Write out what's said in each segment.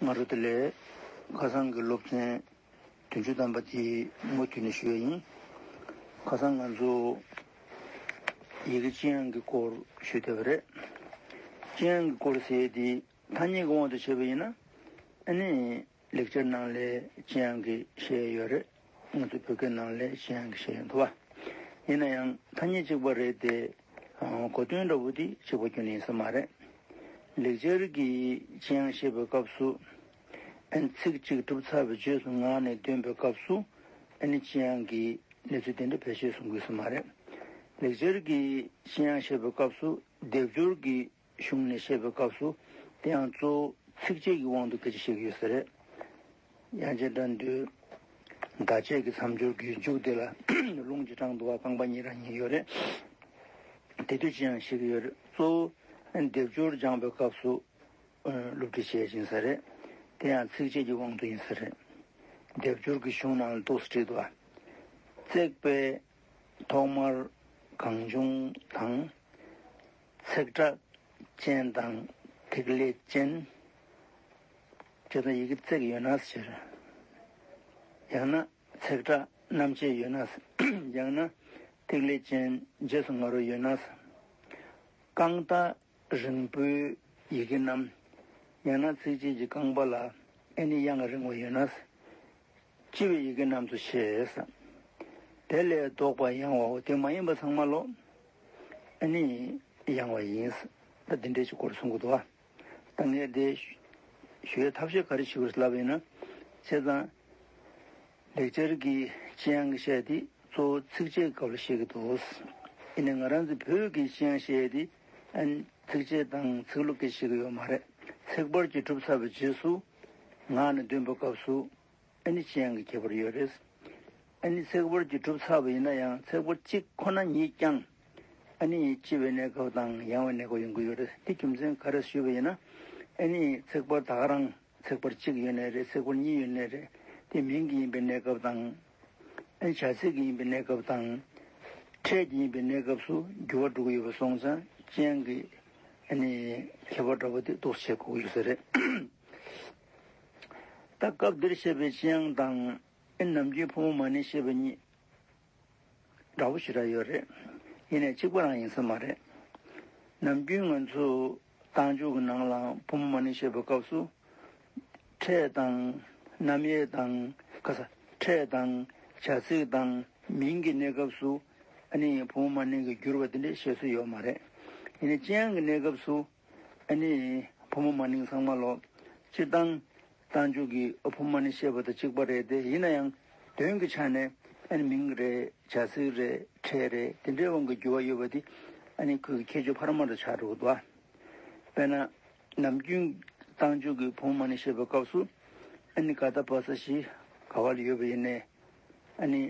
ང་རོ་དེ་ལས། ཁ་སང་གི་སློབ་ཚན། དོན་བཅུ་དམ་པ་དེ་མུ་མཐུད་ནས་ཞུ་བ་ཡིན། ཁ་སང་ང་ཚོ། ཡི་གེ་ཅི་ཡང་གི་སྐོར་ཞུ་བསྡད་པ་རེད། ཅི་ཡང་གི་སྐོར་ཟེར་དེ་ཐ་སྙད་ཀྱི་དབང་དུ་བྱས་པ་ཡིན་ན། ཨ་ནེ། ལེགས་སྦྱར་ནང་ལས་ཅི་ཡང་གི་ཞེས་ཡོད་རེད། ང་ཚོ་བོད་སྐད་ནང་ལས་གཞན་ཡང་བཤད་ཡོད་འདུག་བ། ཡིན་ན་ཡང་ཐ་སྙད་གཅིག་པ་རེད་དེ། གོ་དོན་འདྲ་བོ་དེ་གཅིག་པ་བསྐྱོན་ཡིན་ས་མ་རེད། ལེགས་སྦྱར་གྱི་ཅི་ཡང་བཤད་པའི་སྐབས་སུ། ཨནི་ཚིག་གཅིག་གྲུབ་ཚར་བའི་རྗེས་སུ་ངག་ནས་འདོན་པའི་སྐབས་སུ། ཨནི་ཅི་ཡང་གི་གནས་ཚུལ་དེ་འདྲ་ཕལ་ཆེར་གསུང་དགོས་ས་མ་རེད། ལེགས་སྦྱར་གྱི་ཅི་ཡང་བཤད་པའི་སྐབས་སུ་སྡེབ་སྦྱོར་གྱི་གཞུང་ནས་བཤད་པའི་སྐབས་སུ་དེ་ཡང་གཙོ་བོ་ཚིགས་བཅད་ཀྱི་དབང་དུ་གྱུར་ཅིག་བཤད་ཀྱི་ཡོད་ས་རེད། དབྱངས་ཅན་སྒྲ་མདུད། བརྡ་ཆད་ཀྱི་མཚམས་སྦྱོར་གྱི་མཇུག་དེ་ལ་ལུང་གི་སྤྲང་བདུད་བ་རྐང་པ་གཉིས་རང་ཉིད་ཡོད་རེད། དེ་དུས་ཅི་ཡང་བཤད་ཀྱི་ཡོད་རེད། གཙོ་བོ་སྡེབ་སྦྱོར་སྦྱངས་པའི་སྐབས་སུ་བསླུ་བྲིད་བྱེད་ཀྱིན་ས་རེད། དེ་ཡང་ཚིགས་བཅད་ཀྱི་དབང་དུ་ཡིན་ས་རེད། སྡེབ་སྦྱོར་གྱི་གཞུང་ནང་ལ་འདུག་ས་བྲིད་བ། བརྩེགས་པའི་ཐོག་མར་གང་བྱུང་དང། ཚེག་དྲག་ཅན་དང་ཐིག་ལེ་ཅན། ཇི་ལྟར་ཡི་གེ་བརྩེགས་ཡོད་ན་ཕྱིར། ཡང་ན་ཚེག་དྲག་རྣམ་བཅད་ཡོད་ན། ཡང་ན་ཐིག་ལེ་ཅན་རྗེས་སུ་ང་རོ་ཡོད་ན། རྐང་རྟ་རིང་པོའི་ཡི་གེ་རྣམས། ཡང་ན་ཚིགས་བཅད་ཀྱི་རྐང་པ་ལ་ཨེ་ནི་དབྱངས་རིང་བ་ཡོད་ན། ལྕི་བའི་ཡི་གེ་རྣམས་སུ་ཤེས། དེ་ལས་བཟློག་པ་ཡང་བའོ། དེ་མ་ཡིན་པ་ཚང་མ་བློ་ནི་ཡང་བ་ཡིན། ད་འདི་འདྲའི་ཆོས་སྐོར་གསུང་གི་འདུག་ད་ངས་དེ་ཞུ་བའི་ཐབས་ཤེས་ག་རེ་ཞུ་བར་ལབ་ཡིན་ན། བྱས་ཙང་ལེགས་སྦྱར་གྱི་ལྕི་ཡང་གི་ཤད་དེ་གཙོ་བོ་ཚིགས་བཅད་སྐབས་ལ་བཤད་ཀྱི་འདུག་ཡིན་ནའི་ང་རང་ཚོའི་བོད་ཀྱི་ལྕི་ཡང་ཤད་དེ་ཚིགས་བཅད་དང་ཚིགས་ལུགས་ཀྱིས་བཤད་ཀྱི་ཡོད་མ་རེད། ཚེག་བར་གྱིས་གྲུབ་ཚར་བའི་རྗེས་སུ། ང་ནི་བདུན་པའི་སྐབས་སུ་ཨེ་ནི་ཅན་གྱི་ཁྱད་པར་ཡོད་རེད། ཨེ་ནི་ཚེག་བར་གྱི་གྲུབ་ཚ་བ་ཡིན་ན་ཡང་ཚེག་བར་གཅིག་ཁོ་ན་ཉིད་ཀྱང་ཨེ་ནི་ལྕི་བའི་གནས་སྐབས་དང་ཡང་བའི་གནས་སྐབས་ཡོང་གི་ཡོད་རེད། དེ་རྒྱུ་མཚན་ག་རེས་ཞུས་པ་ཡིན་ན། ཨེ་ནི་ཚེག་བར་དག་རང་ཚེག་བར་གཅིག་ཡོད་ནས་རེད་ཚེག་བར་གཉིས་ཡོད་ནས་རེད། དེ་མིང་གི་ཡིན་པའི་གནས་སྐབས་དང། བྱ་ཚིག་གི་ཡིན་པའི་གནས་སྐབས་དང། ཕྲད་ཀྱི་ཡིན་པའི་གནས་སྐབས་སུ་འགྱུར་བ་འགྲོ་གི་ཡོད་པ་སོང་ཙང་ཅན་གྱི་ཁྱད་པར་འདྲ་བོ་དེ་རྟོགས་བྱེད་དགོས་ཀྱི་ཡོད་ས་རེད། ད་སྐབས་འདིར་བཤད་པའི་ཅན་དབྱངས་དང། ནམ་རྒྱུན་ཕོ་མོ་མ་ནས་བཤད་པ་གཉིས། འདྲ་བོ་ཞེ་དྲག་ཡོད་རེད། ཡིན་ནས་གཅིག་པ་རང་ཡིན་ས་མ་རེད། ནམ་རྒྱུན་ང་ཚོས། རྟགས་འཇུག་གི་ནང་ལའང་བུ་མོ་མ་ནི་ཞེས་པའི་སྐབས་སུ། ཕྲད་དང། རྣམ་དབྱེ་དང། ཕྲད་དང། བྱ་ཚིག་དང། མིང་གི་གནས་སྐབས་སུ། ཨ་ནི་ཡིན་བུ་མོ་མ་ནི་གི་བསྒྱུར་བ་དེ་འདྲའི་བཤད་སྲོལ་ཡོད་མ་རེད། ཡིན་ནའི་སྤྱན་ཡང་གི་གནས་སྐབས་སུ། ཨ་ནི་ཡིན་བུ་མོ་མ་ནི་གི་ཚང་མ་ལོ། སྤྱིར་བཏང། རྟ་མཆོག་གིས་ཨ་ཕོ་མ་ནི་ཤེས་པ་དང་གཅིག་པ་རེད་དེ་ཡིན་ན་ཡང་དོན་གྱི་ཆ་ནས་ཨ་ནི་མིང་རེད་བྱ་ཚིག་རེད་ཕྲད་རེད་དེ་འདྲའི་དབང་གི་འགྱུར་བ་ཡོད་པ་དེ་ཨ་ནི་ཁོས་ཁྱེད་ཆོས་འཕར་མ་རུ་ཆགས་འགྲོ་གི་འདུག་ཨ། དཔེར་ན། ནམ་རྒྱུན་རྟ་མཆོག་གིས་ཕོ་མོ་མ་ནི་ཤེས་པའི་སྐབས་སུ་ཨ་ནི་ག་ད་བ་ས་ཞིག་ག་བ་ལ་ཡོད་པ་ཡིན་ནའི་ཨ་ནི་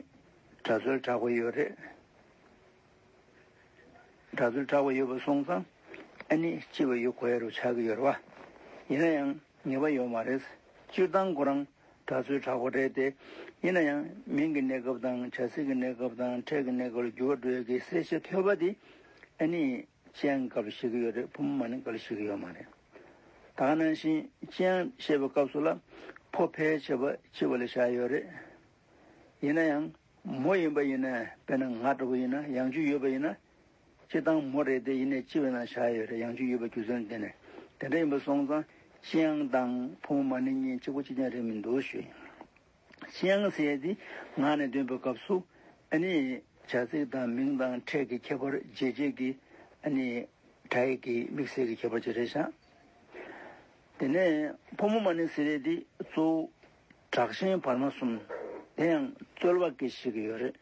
གྲ་སོལ་གྲགས་པ་ཡོད་རེད། གྲྭ་བཙུན་གྲགས་པ་ཡོད་པ་སོང་ཙང་ཨ་ནི་ལྕི་བ་ཡོད་གོའི་རུ་ཆག་གི་ཡོད་རེད་བ། ཡིན་ན་ཡང་ངེས་པ་ཡོད་མ་རེད། སྤྱིར་བཏང་ཁོ་རང་གྲྭ་བཙུན་གྲགས་པ་རེད་དེ། ཡིན་ན་ཡང་མིང་གི་གནས་སྐབས་དང་བྱ་ཚིག་གི་གནས་སྐབས་དང་ཕྲད་ཀྱི་གནས་སྐབས་ལ་འགྱུར་བ་འགྲོ་ཡོད་གི་གསལ་བཤད་ཐོས་པ་དེ་ཨ་ནི་ཅི་ཡང་ག་ལ་ཤེས་གི་ཡོད་རེད་བུ་མོ་མ་ནི་ག་ལ་ཤེས་གི་ཡོད་མ་རེད། ད་ནང་བཞིན་ཅི་ཡང་བཤད་པའི་སྐབས་སུ་ལ་ཕོ་ཕལ་ཆེ་བ་ལྕི་བ་ལ་བཞག་ཡོད་རེད། ཡིན་ན་ཡང། མོ་ཡིན་པ་ཡིན་ན་དཔེར་ན་ང་ལྟ་བུ་ཡིན་ན་ཡང་བཅུད་ཡོད་པ་ཡིན་ན། ཅི་སྟངས་མོ་རེད་དེ་ཡིན་ནས་ཅི་བས་ན་བཞག་ཡོད་རེད་ཡང་བཅུད་ཡོད་པའི་རྒྱུ་མཚན་དེ་ནས་དེ་འདྲ་ཡིན་པ་སོང་ཙང་ཅི་ཡང་དང་ཕོ་མོ་མ་ནི་གཉིས་གཅིག་པོ་གཅིག་ཀྱང་རེད་མི་འདུག་ཞུ་ཡིན། ཅི་ཡང་ཟེར་ཡས་དེ་ངག་ནས་འདོན་པའི་སྐབས་སུ་ཨ་ནི་བྱ་ཚིག་དང་མིང་དང་ཕྲད་ཀྱི་ཁྱད་པར་འབྱེད་བྱེད་ཀྱི་ཨ་ནི་སྒྲ་ཡིག་གི་དམིགས་བསལ་གྱི་ཁྱད་པར་ཅིག་རེད་བཞག་དེ་ནས་ཕོ་མོ་མ་ནི་ཟེར་ཡས་དེ་གཙོ་བོ། དྲག་ཞན་བར་མ་གསུམ། དེ་ཡང་རྩོལ་བ་སྐད་ཤེས་ཀྱི་ཡོད་རེད།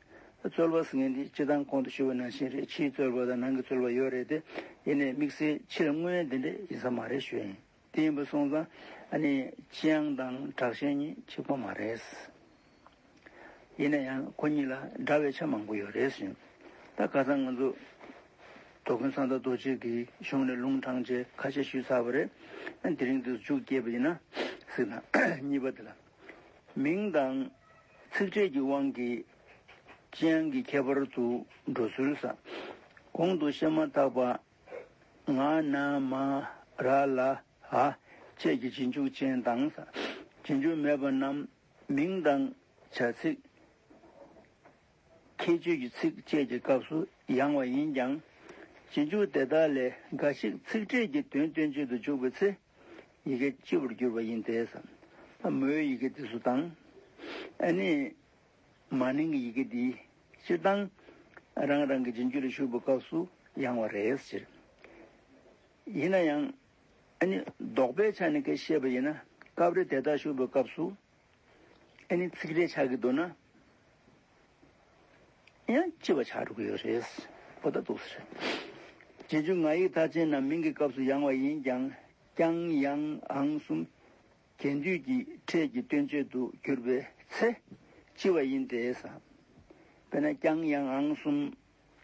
རྩོལ་བ་ཟེར་མཁན་དེ་སྤྱི་དང་གོང་དུ་ཞུས་པ་ནང་བཞིན་རེད་ཕྱིའི་རྩོལ་བ་དང་ནང་གི་རྩོལ་བ་ཡོད་རེད་དེ། ཡིན་ནའི་དམིགས་བསལ་ཕྱིར་དངོས་དེ་འདྲས་ཡིན་ས་མ་རེད་ཞུས་ཡིན། དེ་ཡིན་པ་སོང་ཙང་ཨ་ནི་ཅི་ཡང་དང་དྲག་ཞན་གཉིས་གཅིག་པ་མ་རེད། ཡིན་ན་ཡང་ཁོ་གཉིས་ལ་འདྲ་བའི་ཆ་མང་པོ་ཡོད་རེད་ཟེར། ད་ག་ཚང་ང་ཚོ་དོ་དགོན་གསང་བདག་རྡོ་རྗེ་གིས་གཞུང་ནས་ལུང་དྲངས་རྗེས་ཁ་ཆད་ཞུས་ཚར་བ་རེད། དེ་རིང་དུ་མཇུག་བསྐྱེད་པ་ཡིན་ན། ཟིག་ན། གཉིས་པ་དེ་ལ། མིང་དང། ཚིག་ཕྲད་ཀྱི་དབང་གིས། ལྕེ་ཡང་གི་ཁྱད་པར་དུ་འགྲོ་ཚུལ་ས། གོང་དུ་བཤད་མ་ཐག་པ། ང་ན་མ། ར་ལ་ཧ། བཅས་ཀྱི་རྗེས་འཇུག་ཅན་དང་ས། རྗེས་འཇུག་མེད་པ་རྣམས་མིང་དང། བྱ་ཚིག། ཁྱད་ཆོས་ཀྱི་ཚིགས་བཅད་ཀྱི་སྐབས་སུ་ཡང་བ་ཡིན་ཀྱང། རྗེས་འཇུག་དེ་དག་ལས་འགའ་ཞིག་ཚིག་ཕྲད་ཀྱི་དོན་སྟོན་བྱེད་དུ་འཇུག་པའི་ཚེ། ཡི་གེ་སྤྱི་བོར་གྱུར་པ་ཡིན་ཏེ། ས་མོའི་ཡི་གེ་འདི་སུ་དང། ཨེ་ནི། མ་ནིང་གི་ཡི་གེ་འདི་སྤྱི་དང། རང་རང་གི་རྗེས་འཇུག་ལ་ཞུགས་པའི་སྐབས་སུ་ཡང་བ་རེད་ཟེར། ཡིན་ན་ཡང། ཨེ་ནི། ལྡོག་པའི་ཆ་ནས་ཀྱི་ཤེས་པ་ཡིན་ན་སྐབས་རེ་དེ་དག་ཞུགས་པའི་སྐབས་སུ་ཨེ་ནི་ཚིག་རེ་ཆགས་ཀྱི་འདུག་ན་ཡང་ལྕི་བ་ཆགས་འགྲོ་གི་ཡོད་རེད། པོ་ད་དུག་སེ་རེད། རྗེས་འཇུག་ང་ཡིག་མཐའ་ཅན་ནམ་མིང་གི་སྐབས་སུ་ཡང་བ་ཡིན་ཀྱང་ཀྱང་ཡང་ཨང་གསུམ་གྱེས་འདུས་ཀྱི་ཕྲད་ཀྱི་སྟོན་བྱེད་དུ་གྱུར་པའི་ཚེ་ལྕི་བ་ཡིན་ཏེ། དཔེར་ན་ཀྱང་ཡང་ཨང་གསུམ་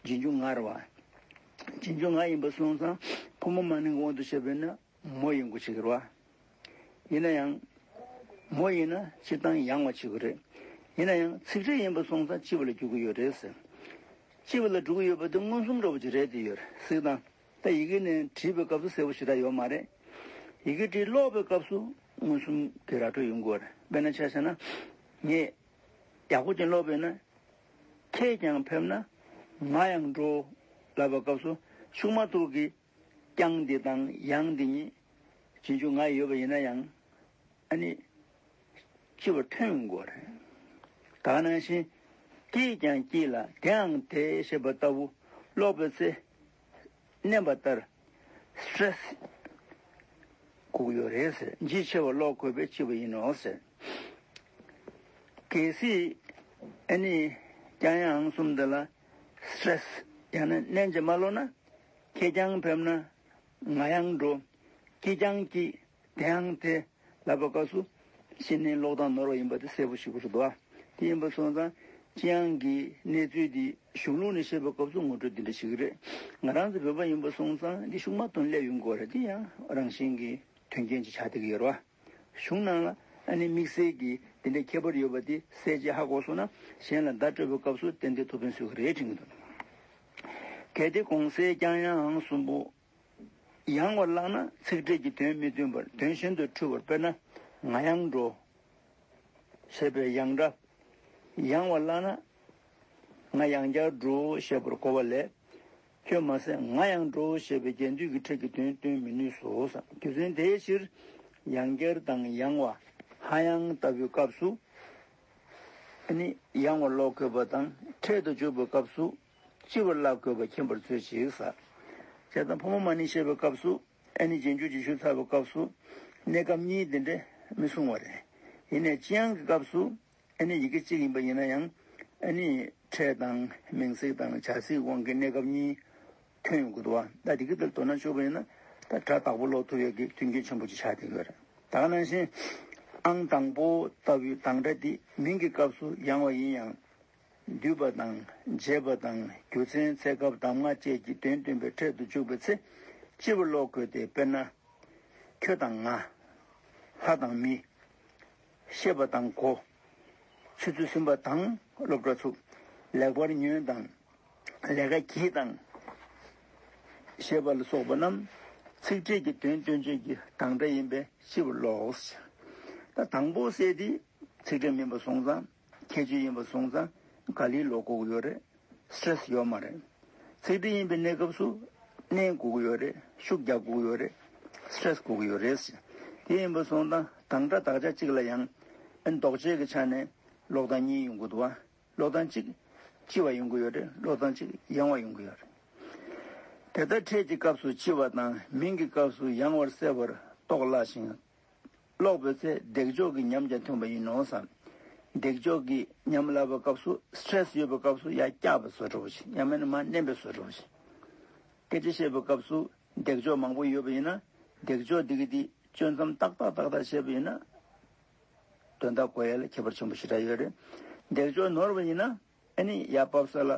རྗེས་འཇུག་ངར་བ། རྗེས་འཇུག་ང་ཡིན་པར་སོང་ཙང་ཕོ་མོ་མ་ནིང་གི་དབང་དུ་བྱས་པས་ན་མོ་ཡིན་དགོས་ཆེ་གི་རོ། ཡིན་ན་ཡང། མོ་ཡིན་ན་སྤྱིར་བཏང་ཡང་བ་བྱེད་དགོས་རེད། ཡིན་ན་ཡང་ཚིག་འབྲེལ་ཡིན་པ་སོང་ཙང་སྤྱི་བ་ལ་རྒྱུག་གི་ཡོད་རེད་ཟེར། སྤྱི་བ་ལ་འགྲོ་གི་ཡོད་པ་དེ་མངོན་སུམ་འགྲོ་བ་ཅིག་རེད་དེ་ཡོད་རེད་གཟིགས་དང། ད་ཡི་གེ་ནས་བྲིས་པའི་སྐབས་སུ་གསལ་བོ་ཞེ་དྲག་ཡོད་མ་རེད། ཡི་གེ་བྲིས་ཀློག་པའི་སྐབས་སུ་མངོན་སུམ་གྱི་ར་སྤྲོད་ཡོང་དགོས་རེད་དཔེར་ན་ཆ་བྱས་ན། ངས་ཡག་པོ་ཅན་ཀློག་པས་ན། ཁྱེད་ཀྱང་ཕེབས་ན། ང་ཡང་འགྲོ། ལབ་པའི་སྐབས་སུ་ཤུགས་མ་ཐུག་གི་ཀྱང་འདི་དང་ཡང་འདི་ཉིད། རྗེས་འཇུག་ང་ཡི་ཡོད་པ་ཡིན་ན་ཡང། ཨ་ནི། ཅི་བ་ཕྲན་བུ་མགོ་རེ། དག་སྣང་ཞིང། སྐྱེས་ཀྱང་སྐྱེས་ལ་དེའང་དེ་ཞེས་པ་ལྟ་བུ། ལོག་པའི་ཚེ། མནན་པ་ལྟར། Stress། བསྒུགས་ཡོད་རེད་ཟེར་འཇིགས་ཆེ་བ་ལོག་དགོས་པས་ཅི་བ་ཡིན་ནོ་ཟེར། གལ་སྲིད། ཨ་ནི། ཀྱང་ཡང་གསུམ་འདི་ལ། Stress། ཡང་ན་མནན་བྱེད་མ་ལོག་ན། ཁྱེད་ཀྱང་ཕེབས་ན་ང་ཡང་འགྲོ། སྐྱིད་ཀྱང་སྐྱིད། དེའང་ཚེ། ལབ་པ་ཀ་སུ། ཤི་ནས་ལོག་དང་ནོར་བ་ཡིན་པ་དེ་གསལ་པོ་ཞིག་གོ་སོ་དོ། དེ་ཡིན་པ་སོང་ཙང་ཅི་ཨང་གིས་གནས་ཚུལ་འདི་གཞུང་ལུགས་ནས་བཤད་པའི་སྐབས་སུ་ངོ་སྤྲོད་འདི་འདྲ་ཞིག་རེད། ང་རང་ཚོ་བོད་པ་ཡིན་པ་སོང་ཙང་འདི་ཤུགས་མ་གཏོང་སླད་ཡོང་དགོས་རེད་དེ་ཡང་རང་བཞིན་གྱིས་དོན་རྐྱེན་གྱི་ཆ་དེ་ག་ཡོད་རེད་བ། གཞུང་སྣང་ལ། ཨ་ནི་དམིགས་བསལ་གྱིས་འདི་འདྲའི་ཁྱད་པར་ཡོད་པ་འདི་གསལ་བྱེད་ཧ་གོ་སོང་ན་གཞན་ལ་བརྡ་སྤྲོད་པའི་སྐབས་སུ་གཏན་བདེ་ཐུགས་ཕན་སུས་ཀྱི་རེད་དྲིས་ངེས་འདུག་གལ་ཏེ་གོང་གསལ་རྐྱང་ཡང་ཨང་གསུམ་པོ་ཡང་བར་བཀླགས་ན་ཚིག་འགྲེལ་གྱི་དོན་མི་མཐུན་པར་དོན་གཞན་དུ་འཁྲུལ་བར་དཔེར་ན་ང་ཡང་འགྲོ། ཞེས་པའི་ཡང་སྒྲ། ཡང་བར་བཀླགས་ན། ང་ཡང་བསྐྱར་འགྲོ་ཞེས་པར་གོ་བ་ལས། ཁྱོད་མ་ཟད་ང་ཡང་འགྲོ་ཞེས་པའི་རྒྱས་འདུས་ཀྱི་ཁྲིད་ཀྱི་དོན་སྟོན་མི་ནུས་སོ། རྒྱུ་མཚན་དེའི་ཕྱིར། ཡང་བསྐྱར་དང་ཡང་བ་ཧ་ཡང་ལྟ་བུའི་སྐབས་སུ་ནི། ཡང་བ་ཀློག་དགོས་པ་དང་འཕྲལ་དུ་འཇུག་པའི་སྐབས་སུ་ལྕི་བར་བཀླག་དགོས་པ་མཁྱེན་པར་མཛོད་ཅིག། ཞེས་དང་ཕོ་མོ་མ་ནི་ཞེས་པའི་སྐབས་སུ་ཨེ་ནི་རྗེས་འཇུག་ཅིག་ཤོས་ཚར་བའི་སྐབས་སུ་གནས་སྐབས་གཉིས་དེ་འདྲ་མི་གསུང་བ་རེད། ཡིན་ནས་ཅི་ཡང་གི་སྐབས་སུ་ཨེ་ནི་ཡི་གེ་གཅིག་ཡིན་པ་ཡིན་ན་ཡང། ཨེ་ནི་ཕྲད་དང་མིང་ཚིག་དང་བྱ་ཚིག་དབང་གིས་གནས་སྐབས་གཉིས་ཐོན་ཡོང་གི་འདུག་བ། ད་དེ་གི་དེར་དོ་སྣང་བཅོལ་བ་ཡིན་ན། ད་སྒྲ་དག་པོ་ཀློག་ཐུབ་ཡོད་ཀྱི་མཐུན་རྐྱེན་ཆེན་པོ་ཅིག་ཆགས་བསྡད་ཡོད་རེད། དག་སྣང་བཞིན། ཨང་དང་པོ་ལྟ་བུའི་གདངས་སྒྲ་འདི་མིང་གི་སྐབས་སུ་ཡང་བ་ཡིན་ཡང། བསྡུས་པ་དང་བརྗེས་པ་དང་རྒྱུ་མཚན་ཚད་སྐབས་གདམ་ང་བཅས་ཀྱི་དོན་སྟོན་པའི་འཕྲལ་དུ་འཇུག་པའི་ཚེ། སྤྱི་བོར་ཀློག་དགོས་ཏེ་དཔེར་ན། ཁྱོད་དང་ང། ལྷ་དང་མི། ཤེས་པ་དང་གོ། ཆུ་ཚོད་གསུམ་པ་དང་སློབ་གྲྭ་ཚུགས། ལེགས་པར་ཉོན་དང་ལས་ཀ་གྱིས་དང། ཞེས་པ་ལ་སོགས་པ་རྣམས་ཚིག་ཕྲད་ཀྱི་དོན་སྟོན་བྱེད་ཀྱི་དང་སྒྲ་ཡིན་པས་ཤེས་པར་ལོགས། ད་དང་པོ་གསལ་ཏེ་ཚིག་ཕྲད་མིན་པར་སོང་ཙང། ཁྱད་ཆོས་ཡིན་པ་བཟུང་ཙང་ག་ལིའི་ལོ་སྒུག་ཡོད་རེད Stress ཡོད་མ་རེད། ཚིག་འབྲི་ཡིན་པའི་གནས་སྐབས་སུ་གནས་སྒུག་ཡོད་རེད་ཤུགས་རྒྱག་སྒུག་ཡོད་རེད Stress སྒུག་ཡོད་རེད། དེ་ཡིན་པ་བཟུང་ཙང་དང་སྒྲ་དག་ཆ་གཅིག་ལ་ཡང་འདོགས་བྱེད་ཀྱི་ཆ་ནས་ལོག་ཙང་གཉིས་ཡོང་གི་འདུག་བ་ལོག་ཙང་གཅིག་ལྕི་བ་ཡོང་གི་ཡོད་རེད་ལོག་ཙང་གཅིག་ཡང་བ་ཡོང་གི་ཡོད་རེད། དེ་ལྟར་ཕྲད་ཀྱི་སྐབས་སུ་ལྕི་བ་དང་མིང་གི་སྐབས་སུ་ཡང་བར་གསལ་བར་རྟོགས་སླ་ཞིང། ཀློག་པའི་ཚེ་འདེགས་འཇོག་གི་ཉམས་ཀྱང་ཐོན་པ་ཡིན་ནོ་བསམ། འདེགས་འཇོག་གི་ཉམས་བསླབ་པའི་སྐབས་སུ Stress ཡོད་པའི་སྐབས་སུ་ཡ་སྐྱག་པའི་བཟོ་འཕྲོ་བ་ཞིག་ཡང་མེད་ན་མ་བསྣན་པའི་བཟོ་འཕྲོ་བ་ཞིག། སྐད་ཆ་བཤད་པའི་སྐབས་སུ་འདེགས་འཇོག་མང་པོ་ཡོད་པ་ཡིན་ན་འདེགས་འཇོག་འདི་གི་འདི་གཅོད་མཚམས་ཏག་ཏག་ཏག་ཏག་བྱེད་པ་ཡིན་ན། དོན་དག་གོ་ཡ་ལ་ཁྱད་པར་ཆེན་པོ་ཞེ་དྲག་ཡོད་རེད། འདེགས་འཇོག་ནོར་བ་ཡིན་ན། ཨེ་ནི་ཡར་བབས་ས་ལ་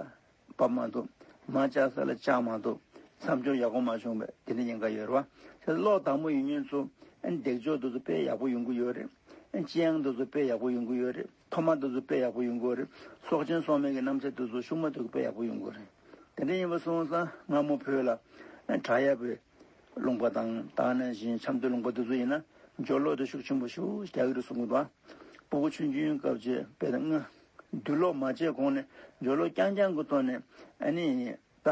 བབས་མ་འདུག་མར་བཅག་ས་ལ་བཅག་མ་འདུག་མཚམས་སྦྱོར་ཡག་པོ་མ་བྱུང་བས་དེ་འདྲ་ཡིན་ག་ཡོད་རེད་བ། ཁྱེད་ཚོ་ཀློག་དག་མོ་ཡིན་ཉོན་ཚོ། ཨེ་ནི་འདེགས་འཇོག་འདི་ཚོ་དཔེ་ཡག་པོ་ཡོང་གི་ཡོད་རེད། ཨེ་ནི་ཅི་ཡང་འདི་ཚོ་དཔེ་ཡག་པོ་ཡོང་གི་ཡོད་རེད། ཐོག་མ་འདི་ཚོ་དཔེ་ཡག་པོ་ཡོང་གི་རེད། སྲོག་ཆེན་སྲོག་མེད་ཀྱི་རྣམ་ཆ་འདི་ཚོ་ཤུགས་མ་དོད་ཀྱི་དཔེ་ཡག་པོ་ཡོང་གི་རེད། དེ་འདྲ་ཡིན་པ་སོང་ཙང་སྔ་མོ་བོད་ལ་བྲག་ཡབ་པའི་ལུང་པ་དང་དྭགས་ན་བཞིན་ཆབ་མདོའི་ལུང་པ་འདི་ཚོ་ཡིན་ན་སྦྱོར་ཀློག་དེ་ཤུགས་ཆེན་པོ་ཤུགས་རྒྱག་གི་རེད་གསུང་གི་འདུག་བ། སྤུ་གུ་ཆུང་ཆུང་སྐབས་བྱས་དཔེ་དང་ལྔ། རྡུལ་གློག་མ་བྱས་གོང་ནས་འཇོལ་གློག་རྐྱང་རྐྱང་གི་ཐོག་ནས་ཨ་ནི་ད་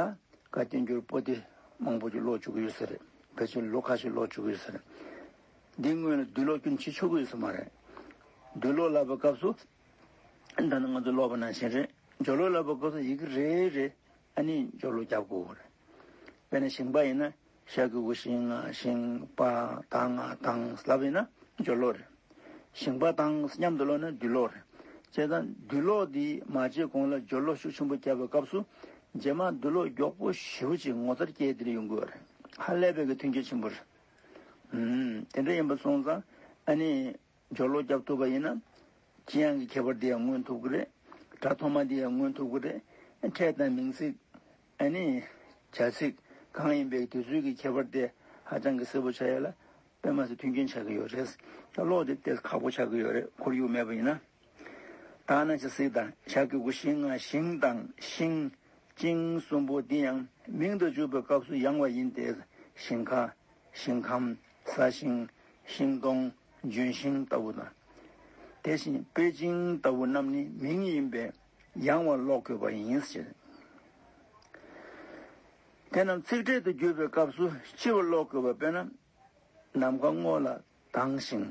ག་བསྟན་འགྱུར་པོ་ཏི་མང་པོ་ཅིག་ཀློག་བཅུག་གི་ཡོད་ས་རེད་བོད་ཆས་ལོ་ཁ་ཤས་ཀློག་བཅུག་གི་ཡོད་ས་རེད། འདིའི་སྔོན་ལ་རྡུལ་གློག་སྐྱུར་འབྱིད་ཆོག་གི་ཡོད་ས་མ་རེད། རྡུལ་གློག་ལབ་པའི་སྐབས་སུ་ད་ནི་ང་ཚོ་ཀློག་པ་ནང་བཞིན་རེད་འཇོལ་གློག་ལབ་པའི་སྐབས་སུ་ཡི་གེ་རེ་རེ་ཨ་ནི་འཇོལ་གློག་རྒྱབ་དགོས་རེད། དཔེར་ན་ཞིང་པ་ཡིན་ན་ཤར་གྱི་དབུས་ཤིང་ཤིང་པ་དང་དང་ལྷ་བས་ན་སྦྱོར་ཀློག་རེ། ཤིང་པ་དང་མཉམ་དུ་ཀློག་ན་བསྡུས་ཀློག་རེ། ཅེས་དང་བསྡུས་ཀློག་འདི་མ་བྱས་གོང་ལ་སྦྱོར་ཀློག་ཤུགས་ཆེན་པོ་བརྒྱབ་པའི་སྐབས་སུ་རྗེས་མར་བསྡུས་ཀློག་མགྱོགས་པོ་ཞེ་བོ་ཅིག་ངོ་མཚར་སྐྱེས་འདིར་ཡོང་དགོས་པ་རེད། ཧ་ལས་པའི་གི་མཐུན་རྐྱེན་ཆེན་པོ་རེད། དེ་འདྲ་ཡིན་པ་སོང་ཙང་ཨ་ནི་སྦྱོར་ཀློག་བརྒྱབ་ཐུབ་པ་ཡིན་ན། ཅི་ཡང་གི་ཁྱད་པར་འདི་ཡང་མངོན་ཐུབ་ཀྱི་རེད། སྒྲ་ཐོག་མ་འདི་ཡང་མངོན་ཐུབ་ཀྱི་རེད། ཕྲད་དང་མིང་ཚིག། ཨ་ནི། བྱ་ཚིག་གང་ཡིན་པའི་དུས་ཚོད་ཀྱི་ཁྱད་པར་དེ་ཧ་ཅང་གི་གསལ་པོ་ཆགས་ཡོད་ལ། དཔེ་མ་ཟད་མཐུན་རྐྱེན་ཆགས་ཀྱི་ཡོད་རེད། ད་ཀློག་དེབ་དེ་ཁག་པོ་ཆགས་ཀྱི་ཡོད་རེད་ཁོར་ཡུག་མེད་པ་ཡིན་ན། དག་ན་བྱ་ཚིག་དང་བྱ་དགེ་དགུ་ཤིང་ང་ཤིང་དང་ཤིང། ཅིང་གསུམ་པོ་འདི་ཡང་མིང་དུ་འཇུག་པའི་སྐབས་སུ་ཡང་བ་ཡིན་ཏེ། ཤིང་ཁ། ཤིང་ཁམ། ས་ཤིང། ཤིང་སྡོང། ལྗོན་ཤིང་ལྟ་བུ་དང། དེ་བཞིན་པེ་ཅིང་ལྟ་བུ་རྣམས་ནི་མིང་ཡིན་པས། ཡང་བ་ཀློག་དགོས་པ་ཡིན། དེ་རྣམས་ཚིག་འགྲེལ་དུ་བརྒྱུད་པའི་སྐབས་སུ་སྤྱི་བ་ཀློག་དགོས་པ་དཔེར་ན། ནམ་མཁའ་སྔོ་ལ་དྭངས་ཤིང།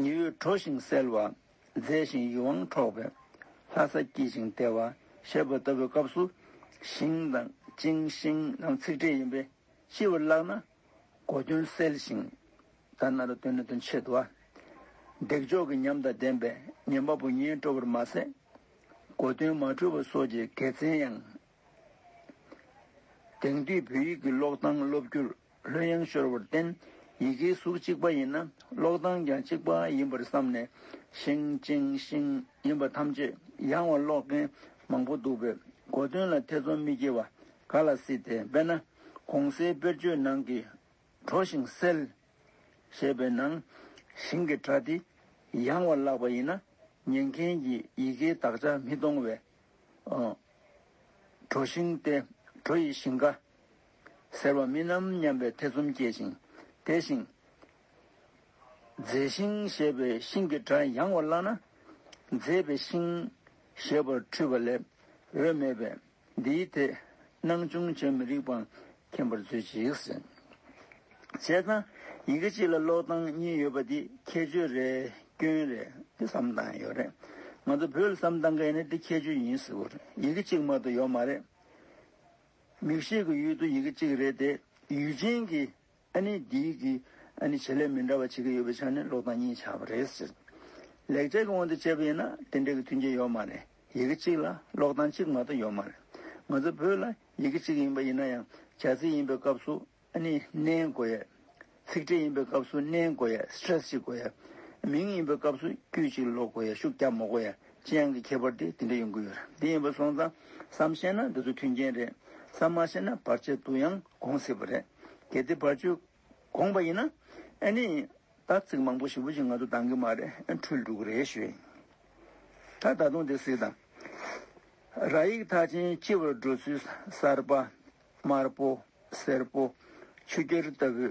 ཉི་འོད་དྲོ་ཞིང་གསལ་བ། མཛེས་ཤིང་ཡིད་དབང་འཕྲོག་པའི། ལྷ་ས་སྐྱིད་ཅིང་བདེ་བ། ཞེས་པ་ལྟ་བུའི་སྐབས་སུ། ཞིང་དང་ཅིང་ཤིང་རྣམས་ཚིག་འགྲེལ་ཡིན་པས་སྤྱི་བར་བཀླགས་ན། གོ་དོན་གསལ་ཞིང། ད་ནཱ་རོ་ཏུ་ནི་དོན་ཆེད་དུ། འདེགས་འཇོག་གི་ཉམས་དང་ལྡན་པས་ཉན་པ་པོ་ཉན་སྤྲོ་བར་མ་ཟད། གོ་དོན་མ་འཁྲུལ་བ་སོགས་ཀྱི་དགེ་མཚན་ཡང། དེང་དུས་བོད་ཡིག་གི་ཀློག་སྟངས་སློབ་རྒྱུར་ལྷོད་ཡངས་ཤོར་བར་བརྟེན་ཡི་གེའི་གཟུགས་གཅིག་པ་ཡིན་ན་ཀློག་སྟངས་ཀྱང་གཅིག་པ་ཡིན་པར་བསམ་ནས་ཤིང་ཅིང་ཤིང་ཡིན་པ་ཐམས་ཅད་ཡང་བ་ཀློག་མཁན་མང་པོ་འདུག་པས་གོ་དོན་ལ་ཐེ་ཚོམ་མི་སྐྱེ་བ་ག་ལ་སྲིད་དེ། དཔེར་ན་གོང་གསལ་དཔེར་བརྗོད་ནང་གི། དྲོ་ཞིང་བསིལ། ཞེས་པའི་ནང་བཞིན་གྱི་སྒྲ་དེ་ཡང་བར་བཀླགས་པ་ཡིན་ན་ཉན་མཁན་གྱིས་ཡི་གེའི་དག་ཆ་མི་མཐོང་བས། དྲོ་ཞིང་སྟེ་དྲོ་ཡི་ཞིང་ཀ། ཟེར་བ་མིན་ནམ་སྙམ་པའི་ཐེ་ཚོམ་སྐྱེ་ཞིང་དེ་བཞིན། མཛེས་ཤིང་ཞེས་པའི་ཤིང་གི་སྒྲ་ཡང་བར་བཀླགས་ན། མཛེས་པའི་ཤིང། ཞེས་པར་འཁྲུལ་བ་ལས་འོས་མེད་པས། འདིའི་ཐད་སྣང་ཆུང་བྱེད་མི་རིགས་པ་མཁྱེན་པར་མཛོད་ཅིག། བྱས་ཙང་ཡི་གེ་གཅིག་ལ་ཀློག་སྟངས་གཉིས་ཡོད་པ་འདི་ཁྱད་ཆོས་རེད་སྐྱོན་རེད་འདི་བསམ་སྟངས་ཡོད་རེད། ང་ཚོ་བོད་ལ་བསམ་སྟངས་མཁན་ནི་འདི་ཁྱད་ཆོས་ཡིན་ཟེར་བ་རེད་ཡི་གེ་གཅིག་མ་ཏོག་ཡོག་མ་རེད། མིག་ཤེས་ཀྱི་ཡུལ་དུ་ཡི་གེ་གཅིག་རེད་དེ་ཡུལ་ཅན་གྱི་ཨ་ནི་འདི་གི་ཨ་ནི་བྱེད་ལས་མི་འདྲ་བ་བྱེད་ཀྱི་ཡོད་པའི་ཆ་ནས་ལོག་དང་གཉིས་ཆ་བ་རེད་ཟེར། ལེགས་སྤྱད་ཀྱི་དབང་དུ་བྱས་པ་ཡིན་ན་དེ་འདྲའི་གི་མཐུན་རྐྱེན་ཡོད་མ་རེད་ཡི་གེ་གཅིག་ལ་ལོག་དང་གཅིག་མ་གཏོགས་ཡོད་མ་རེད། ང་ཚོ་བོད་ལ་ཡི་གེ་གཅིག་ཡིན་པ་ཡིན་ན་ཡང་བྱ་ཚིག་ཡིན་པའི་སྐབས་སུ་ཨ་ནི་ནའི་གོ་ཡས། ཚིག་ཕྲད་ཡིན་པའི་སྐབས་སུ་ནའི་གོ་ཡས stress ཅིག་གོ་ཡས། མིང་ཡིན་པའི་སྐབས་སུ་དཀྱུས་གཅིག་ལོག་གོ་ཡས་ཤུགས་རྒྱབ་མོ་གོ་ཡས་ཅི་ཡང་གི་ཁྱད་པར་དེ་དེ་འདྲ་ཡོང་གི་ཡོད་རེད་དེ་ཡིན་པ་སོང་ཙང་བསམ་ཤེས་ན་འདི་ཚོ་མཐུན་རྐྱེན་རེད་བསམ་མ་ཤེས་ན་བར་ཆད་དུ་ཡང་དགོངས་སྲིད་པ་རེད། གལ་ཏེ་བར་གཅོད་དགོངས་པ་ཡིན་ན། ཨེ་ནི། ད་ཚིག་མང་པོ་ཞིབ་པོ་ཞིག་ང་ཚོ་འདང་གི་མ་རེད་ཨེ་འཁྲུལ་འདུག་རེ་ཞུས། ད་ད་དུང་དེ་སྲིད་དང། ར་ཡིག་མཐའ་ཅན་སྤྱི་བར་འགྲོ་ཚུལ་གསར་པ། དམར་པོ། སེར་པོ། ཆུ་སྐྱེར་ལྟ་བུའི་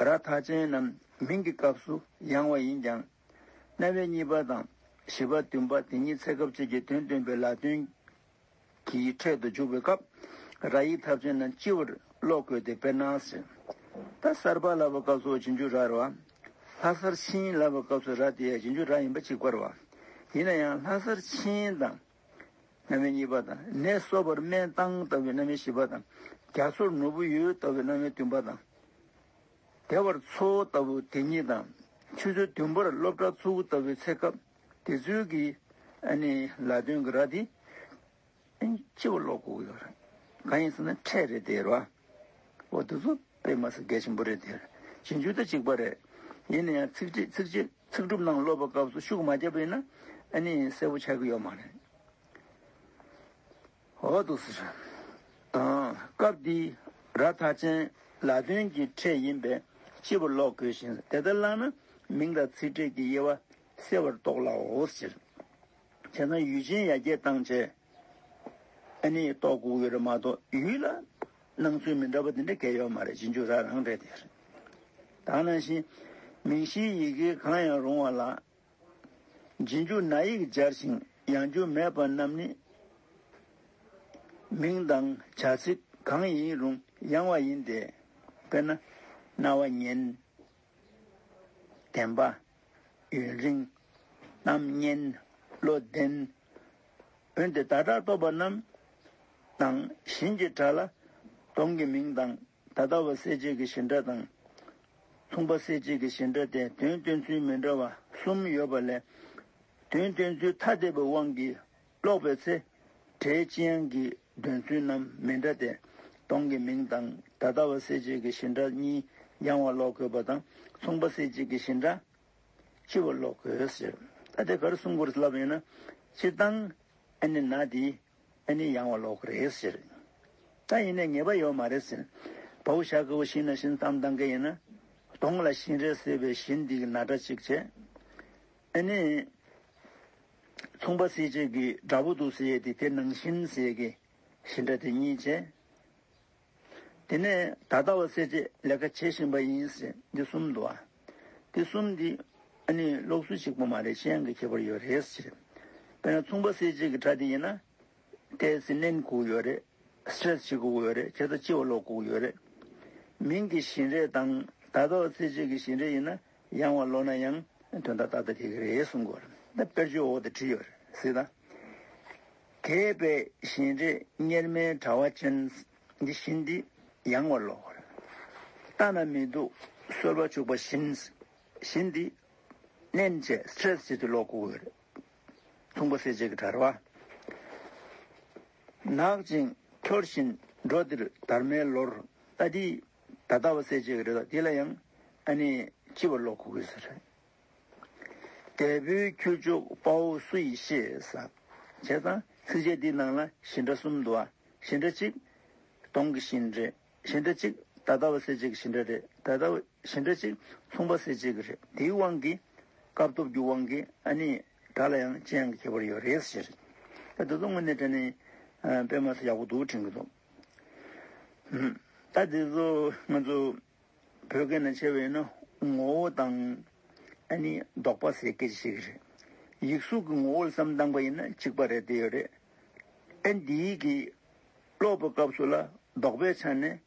ར་མཐའ་ཅན་རྣམས་མིང་གི་སྐབས་སུ་ཡང་བ་ཡིན་ཀྱང། རྣ་བའི་གཉིས་པ་དང་བཞི་པ་བདུན་པ་དེ་གཉིས་ཚད་སྐབས་གཅིག་གི་དོན་སྟོན་པའི་ལ་དོན་གིས་འཕྲེད་དུ་འཇུག་པའི་སྐབས། ར་ཡིག་ཐབས་ཅན་རྣམས་སྤྱི་བོར་ཀློག་དགོས་ཏེ་དཔེར་ན། ད་སར་པ་ལ་བའི་སྐབས་སུ་རྗེས་འཇུག་རར་བ། ལྷ་སར་ཕྱིན་ལ་བའི་སྐབས་སུ་ར་དེ་ཡང་རྗེས་འཇུག་ར་ཡིན་པ་གཅིག་པར་བ། ཡིན་ན་ཡང་ལྷ་སར་ཕྱིན་དང། རྣམ་དབྱེ་གཉིས་པ་དང་ནས་གསོ་བར་སྨན་བཏང་ལྟ་བུའི་རྣམ་དབྱེ་བཞི་པ་དང། རྒྱ་མཚོར་ནོར་བུ་ཡོད་ལྟ་བུའི་རྣམ་དབྱེ་བདུན་པ་དང། བདེ་བར་འཚོ་ལྟ་བུ་དེ་གཉིས་དང། ཆུ་ཚོད་བདུན་པར་སློབ་གྲྭ་ཚུགས་ལྟ་བུའི་ཚེ་སྐབས། དེ་ཚོའི་གི་ཨ་ནི་ལ་དོན་གི་ར་དེ། སྤྱི་བོ་ལོག་གོ་ཡོད་རེད། གང་ཡིན་ཟེར་ན་ཁྲལ་རེད་དེ་ར། འོ་དེ་ཚོ་དཔེ་མ་ཟད་འགལ་ཆེན་པོ་རེད་དེ། ཇི་འཇུག་ད་ཅིག་པ་རེད། ཡིན་ན་ཡང་ཚིག་ཁྲིད་ཚིག་བཅད་ཚིག་སྒྲུབ་ནང་སློབ་པ་སྐབས་སུ་ཤུགས་མ་རྒྱབ་པ་ཡིན་ན་ཨ་ནི་གསལ་བོ་ཆགས་གི་ཡོད་མ་རེད། འོག་ཏུ། སྐབས་འདིའི་ར་ཐག་ཅན་ལ་དོན་གྱི་ཕྲད་ཡིན་པས་སྤྱི་བོར་ཀློག་དགོས་ཤིང་དེ་ལྟར་བཀླགས་ན་མིང་དང་ཚིག་ཕྲད་ཀྱི་དབྱེ་བ་གསལ་བར་རྟོགས་སླའོ། སྤྱིར་ན་ཡུལ་ཅན་ཡ་གྱལ་སྟངས་བཅས་ནི་རྟོགས་དགོས་ཀྱི་རེད་མ་གཏོགས་ཡུལ་ལ་སྣང་ཚུལ་མི་འདྲ་བ་དེ་འདྲ་འགལ་ཡོད་མ་རེད་རྗེས་འཇུག་ར་རང་རེད་དེ་རེད། དང་ནང་བཞིན་མིང་གཞིའི་ཡི་གེ་གང་ཡང་རུང་བ་ལ་རྗེས་འཇུག་ན་ཡིག་སྦྱར་ཞིང་ཡང་འཇུག་མེད་པ་རྣམས་ནི། མིང་དང་བྱ་ཚིག་གང་ཡིན་རུང་ཡང་བ་ཡིན་ཏེ། དཔེར་ན། རྣ་བ། སྙན། བདེན་པ། ཡུན་རིང། གཏམ་སྙན། བློ་ལྡན། འོན་ཏེ་བདག་སྒྲ་སྟོབས་པ་རྣམས་དང་བཞིན་གྱི་སྒྲ་ལ་སྟོང་གི་མིང་དང་ད་ལྟ་བའི་གསལ་བྱེད་ཀྱི་བཞི་འདྲ་དང། མཚུངས་པ་གསལ་བྱེད་ཀྱི་བཞི་འདྲ་སྟེ་དོན་སྟོན་ཚུལ་མི་འདྲ་བ་གསུམ་ཡོད་པ་ལས། དོན་སྟོན་ཚུལ་ཐ་དད་པའི་དབང་གིས་ཀློག་པའི་ཚེ། སྒྲའི་སྤྱི་དབྱངས་ཀྱི་འདོན་ཚུལ་རྣམས་མི་འདྲ་སྟེ། སྟོང་གི་མིང་དང་ད་ལྟ་བའི་གསལ་བྱེད་ཀྱི་བཞི་འདྲ་གཉིས་ཡང་བར་ཀློག་དགོས་པ་དང་མཚུངས་པ་གསལ་བྱེད་ཀྱི་བཞི་འདྲ་གཅིག་བར་ཀློག་དགོས། ད་དེ་གར་གསུང་སྐོར་བསླབ་ཡོད་ན་སྤྱིར་བཏང་ཨ་ནི་ན་དེའི་ཨ་ནི་ཡང་བ་ལོག་རེད་ཟེར། ད་ཡིན་ནས་ངེས་པ་ཡོད་མ་རེད་ཟེར། བ་འུ་ཤ་གི་འུ་ཤིན་ན་ཤིན་གཏམ་གཏང་མཁན་ཡིན་ན། གདོང་ལ་ཤིན་རེད་ཟེར་བའི་ཤིན་འདི་གི་ན་སྒྲ་གཅིག་བྱས། ཨ་ནི། མཚུངས་པ་སེ་བྱས་ཀི་འདྲ་པོ་འདུག་ཟེར་ཡས་དེ་དེ་ནང་ཤིན་ཟེར་ཀི། ཤིན་སྒྲ་དེ་གཉིས་བྱས། དེ་ནས་ད་ལྟ་བ་སེར་བྱེས་ལས་ཀ་བྱེད་བཞིན་པ་ཡིན་ཟེར་འདི་གསུམ་འདུག་ཨ། འདི་གསུམ་འདི་ཨ་ནི་ལོག་ཚུལ་ཞིག་པོ་མ་རེད་གཞན་གྱི་ཁྱད་པར་ཡོད་རེད་ཟེར། དཔེར་ན་མཚུངས་པ་སེར་བྱེས་ཀྱི་དགྲ་དེ་ཡིན་ན། དེས་ཟིན་ལེན་བསྒུགས་ཡོད་རེད། Stress བྱེད་བསྒུགས་ཡོད་རེད་ཁྱེད་ལྟ་སྤྱི་བ་ལོག་བསྒུགས་ཡོད་རེད། མིང་གི་བཞིན་རས་དང་ད་ལྟ་བ་སེར་བྱེས་ཀྱི་བཞིན་རས་ཡིན་ན། ཡང་བ་ལོ་ན་ཡང་དོན་ད་ལྟ་ད་དེ་གི་རེད་གསུང་དགོས་རེད་ད་དཔེར་བརྗོད་འོག་ཏུ་བྲིས་ཡོད་རེད་གཟིགས་དང། དེས་པས་བཞིན་རས་གཉེར་མའི་དྲ་བ་ཅན་འདི་བཞིན་འདི་ཡང་བ་ལོ་རེད། ལྟ་ན་མི་སྡུག་གསོལ་བ་བྱུག་པ་བཞིན་བཞིན་འདི་མནན་བཅས stress བྱེད་དུ་ལོག་གོ་གི་རེད། མཚུངས་པ་སེ་བྱས་ཀྱི་དྲ་བ། ནག་ཅིང་འཁྱོར་བཞིན་འགྲོ་འདིར་དར་མའི་ལོར་ལྟ་འདི་ད་ལྟ་བ་སེ་བྱེད་ཀྱི་རེད་དོ་དེ་ལ་ཡང་ཨ་ནི་སྤྱི་བ་ལོག་གོ་གི་ཟེར། དལ་བུའི་ཁྱུ་མཆོག་དཔའ་བོ་སུ་ཡིས་ཤེས། བྱས་ཙང་ཚིགས་བཅད་འདིའི་ནང་ལ་བཞི་འདྲ་གསུམ་འདུག་ཨ་བཞི་འདྲ་གཅིག། གདོང་གི་བཞི་འདྲ་བཞི་འདྲ་གཅིག་ད་ལྟ་བ་སེ་བྱེད་ཀྱི་བཞི་འདྲ་རེད་ད་ལྟ་བ་བཞི་འདྲ་གཅིག་མཚུངས་པ་སེ་བྱེད་ཀྱི་རེད་དེའི་དབང་གིས། སྐབས་སྟོབས་ཀྱི་དབང་གིས་ཨ་ནི་ད་ལ་ཡང་ཅི་ཡང་གི་ཁྱད་པར་ཡོད་རེད་ཟེར། ད་དུ་ངོ་ནས་དྲན་ནས་དཔེ་སྨྲ་ས་ཡག་པོ་འདུག་དྲན་གྱི་འདུག། ད་དེ་ཚོ་ང་ཚོ་བོད་སྐད་ནང་བྱས་པ་ཡིན་ན་ངོ་བོ་དང། ཨ་ནི་ལྡོག་པ་ཟེར་སྐད་ཅིག་ཤེས་ཀྱི་རེད། ཡིག་གཟུགས་ཀྱི་ངོ་བོ་ལ་བསམ་སྟངས་པ་ཡིན་ན་གཅིག་པ་རེད་དེ་ཡོད་རེད། ཨ་འདི་གི་ཀློག་པའི་སྐབས་སུ་ལ་ལྡོག་པའི་ཆ་ནས་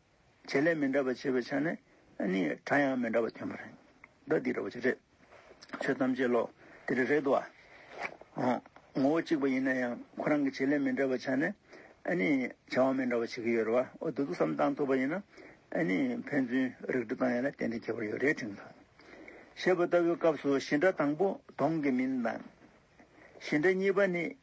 བྱེད་ལས་མི་འདྲ་བ་བྱེད་པའི་ཆ་ནས་ཨ་ནི་སྒྲ་ཡང་མི་འདྲ་བ་ཐོན་པ་རེད། ད་འདི་འདྲ་བ་ཅིག་རེད། ཆོས་ཐམས་ཅད་བློ་དེ་རེ་རེད་དོ། ངོ་བོ་གཅིག་པ་ཡིན་ན་ཡང་ཁོ་རང་གི་བྱེད་ལས་མི་འདྲ་བ་བྱ་ནས་ཨ་ནི་བྱ་བ་མི་འདྲ་བ་བྱེད་ཀྱི་ཡོད་རེད་བ། འོ་དེ་ཚོ་བསམ་སྟངས་ཐུབ་པ་ཡིན་ན་ཨ་ནི་ཕན་ཚུན་རིགས་འགྲེ་བཏང་ཡོད་ན་ཏན་ཏན་ཁྱད་པར་ཡོད་རེད་དྲན་ཐུབ། ཞེས་པ་ལྟ་བུའི་སྐབས་སུ་གཞི་འདྲ་དང་པོ་གདོང་གི་མིང་དང། གཞི་འདྲ་གཉིས་པ་ནི་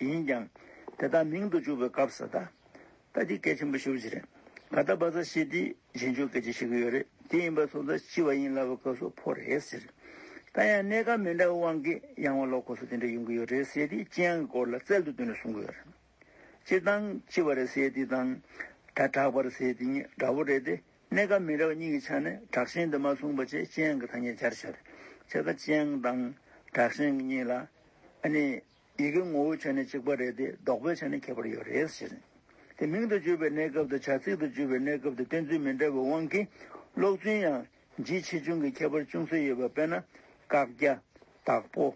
ཡིན་ཀྱང། དེ་དག་མིང་དུ་བཅུག་པའི་སྐབས་སུ། ད་ལྟ་འདི་སྐད་ཆེན་པོ་ཞུ་བཞིན་རེད། ད་ལྟ་བ་ཚ་ཤེས་དེས་གཞན་ཆོས་སྐད་ཆ་བཤད་ཀྱི་ཡོད་རེད། དེ་ཡིན་པ་སོགས་ད་ལྕི་བ་ཡིན་ལ་བའི་སྐབས་སུ་ཕོ་རེད་ཟེར། ད་ཡང་གནས་སྐབས་མི་འདྲ་བའི་དབང་གིས་ཡང་བ་ལོག་ཁོ་སོགས་དེ་འདྲ་ཡོང་གི་ཡོད་རེད་ཟེར་དེས་ལྕི་ཡང་གི་སྐོར་ལ་རྩལ་དུ་བཏོན་ནས་གསུང་གི་ཡོད་རེད། སྤྱིར་བཏང་ལྕི་བ་རེད་ཟེར་དེ་དང། ད་དྲག་པ་རེད་ཟེར་དེ་གཉིས་འདྲ་བོ་རེད་དེ། གནས་སྐབས་མི་འདྲ་བ་གཉིས་ཀྱི་ཆ་ནས་དྲག་ཞན་དུ་མ་གསུངས་པ་ཅེས་སྤྱན་གྱི་ཐ་སྙད་སྦྱར་ཕྱིར། ཆེད་ཀ་སྤྱན་དང་དྲག་ཞན་གྱི་གཉིས་ལ། ནི། ཡི་གེའི་ངོ་བོའི་ཆ་ནས་གཅིག་པ་རེད་དེ་ལྡོག་པའི་ཆ་ནས་ཁྱད་པར་ཡོད་རེད་ཟེར། དེ་མིང་དུ་བརྗོད་པའི་གནས་སྐབས་དང་བྱ་ཚིག་ཏུ་བརྗོད་པའི་གནས་སྐབས་དེ་བསྟན་ཚུལ་མི་འདྲ་བའི་དབང་གིས་ཀློག་ཚུལ་ཡང་འཇིགས་ཆེ་ཆུང་གི་ཁྱད་པར་ཅུང་ཟད་ཡོད་པ་དཔེར་ན། བཀག་རྒྱ། དྭགས་པོ།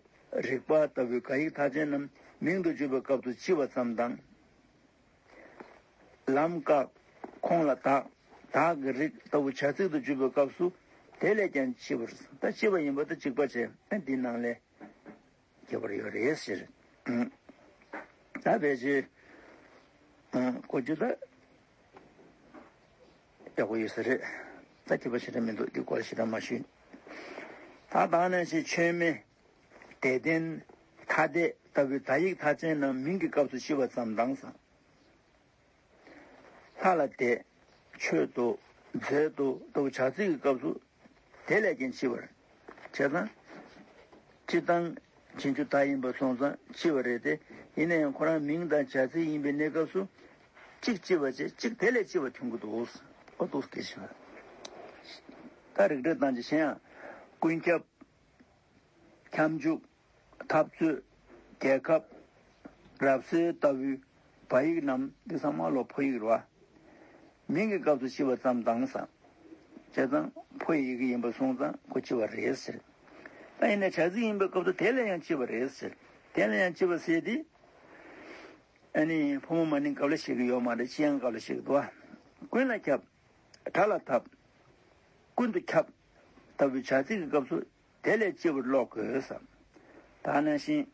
རིག་པ་ལྟ་བུའི་ག་ཡིག་མཐའ་ཅན་རྣམས་མིང་དུ་བརྗོད་པའི་སྐབས་སུ་ལྕི་བ་ཙམ་དང། ལམ་བཀག། ཁོང་ལ་དག། དག་གི་རིགས་ལྟ་བུ་བྱ་ཚིག་ཏུ་བརྗོད་པའི་སྐབས་སུ། དེ་ལས་ཀྱང་ལྕི་བར། ད་ལྕི་བ་ཡིན་པ་ལྟར་འཇིགས་པ་བྱེད་ན་འདི་སྣང་ལས། ཁྱད་པར་ཡོད་རེད་ཟེར། ད་བེད་སྤྱོད། གོ་རྒྱུ་ད། ཡག་པོ་ཡོད་ས་རེད། ད་ཁྱད་པར་ཞེ་དྲག་མི་འདུག་འདི་སྐོར་ཞེ་དྲག་མ་ཞུས། ད་དང་ནས་ཞེས་ཆོས་མེད། དད་ལྡན། ཐ་དད་ལྟ་བུའི་དག་ཡིག་མཐའ་ཅན་རྣམས་མིང་གི་སྐབས་སུ་ཤི་བ་ཙམ་དྭངས་སང། ལྷ་ལ་དད། མཆོད་དོ། མཛད་དོ་ལྟ་བུ་བྱ་ཚིག་གི་སྐབས་སུ། དེ་ལས་ཀྱང་ལྕི་བར། བྱས་ཙང། སྤྱི་བཏང། བྱེད་རྒྱུ་དག་ཡིན་པར་སོང་ཙང་ལྕི་བ་རེད་དེ། ཡིན་ན་ཡང་ཁོ་རང་མིང་དང་བྱ་ཚིག་ཡིན་པའི་གནས་སྐབས་སུ། གཅིག་ལྕི་བ་བྱས་གཅིག་དེ་ལས་ལྕི་བ་འཐོན་གི་འདུག་ཨོ་སྟོབས་སྐྱེ་ཤི་བ། ད་རིག་བྲལ་བཏང་རྗེས་གཞན་ཡང། ཀུན་ཁྱབ། ཁྱབ་འཇུག། འཐབ་རྩོད། རྒྱལ་ཁབ། རབ་གསལ་ལྟ་བུའི་བ་ཡིག་རྣམས་འདི་ཚང་མ་ལོ་ཕོ་ཡིག་རུ་བ། མིང་གི་སྐབས་སུ་ཕྱི་བ་ཙམ་བཏང་ཙང། བྱས་ཙང་ཕོ་ཡི་ཡི་གེ་ཡིན་པར་གསུངས་ཙང་ཁོ་ཕྱི་བ་རེད་ཟེར། ད་ཡིན་ན་བྱ་ཚིག་ཡིན་པའི་སྐབས་སུ་དེ་ལས་ཡང་ཕྱི་བ་རེད་ཟེར། དེ་ལས་ཡང་ཕྱི་བ་ཟེར་དུས། ཨ་ནི་ཕོ་མོ་མ་ནིང་སྐབས་ལ་བཤད་ཀི་ཡོད་མ་རེད་ཕྱི་ཡང་སྐབས་ལ་བཤད་ཀི་འདུག་ཨ། ཀུན་ལ་ཁྱབ། དགྲ་ལ་འཐབ། ཀུན་ཏུ་ཁྱབ། ལྟ་བུའི་བྱ་ཚིག་གི་སྐབས་སུ་དེ་ལས་སྤྱི་བོར་ཀློག་དགོས་སམ། ད་ནང་བཞིན།